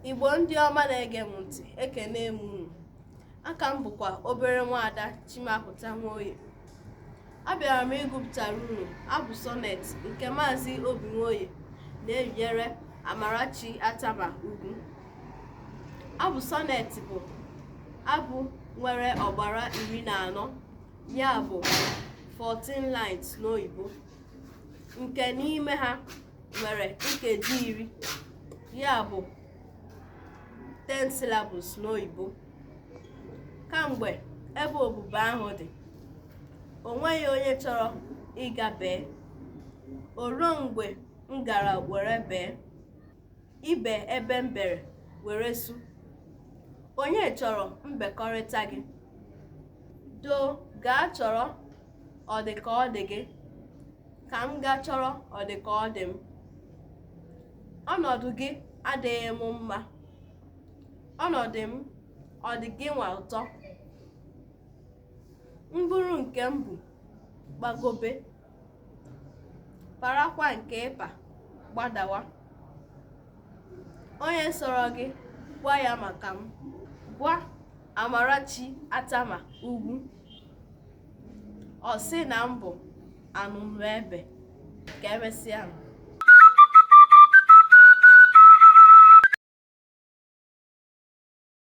Igbo ndị ọma na-ege m ntị ekene m unu aka m bụkwa obere nwaada Chimapụta Nwoye abịara m ịgụpụtara unu abụ sọnet nke maazị Obi Nwoye na-ehunyere Amarachi Atama Ugwu abụ sọnet bụ abụ nwere ọgbara iri na anọ ya bụ 14 lines n'oyibo nke n'ime ha nwere nkeji iri ya bụ 10 syllables n'oyibo kamgbe ebe obube ahụ dị o nweghị onye chọrọ ịga bee o ruo mgbe m gara were bee i bee ebe m bere were su onye chọrọ mbekọrịta gị doo gaa chọrọ ọ dị ka ọ dị gị ka m gaa chọrọ ọ dị ka ọ dị m ọnọdụ gị adịghị m mma ọnọdụ m ọ dị gị nwa ụtọ m buru nke m bu gbagobe parakwa nke ị pa gbadawa onye sọrọ gị gwa ya maka m gwa Amarachi Atama Ugwu ọ sị na m bụ anụnụ ebe ka emesịa nụ.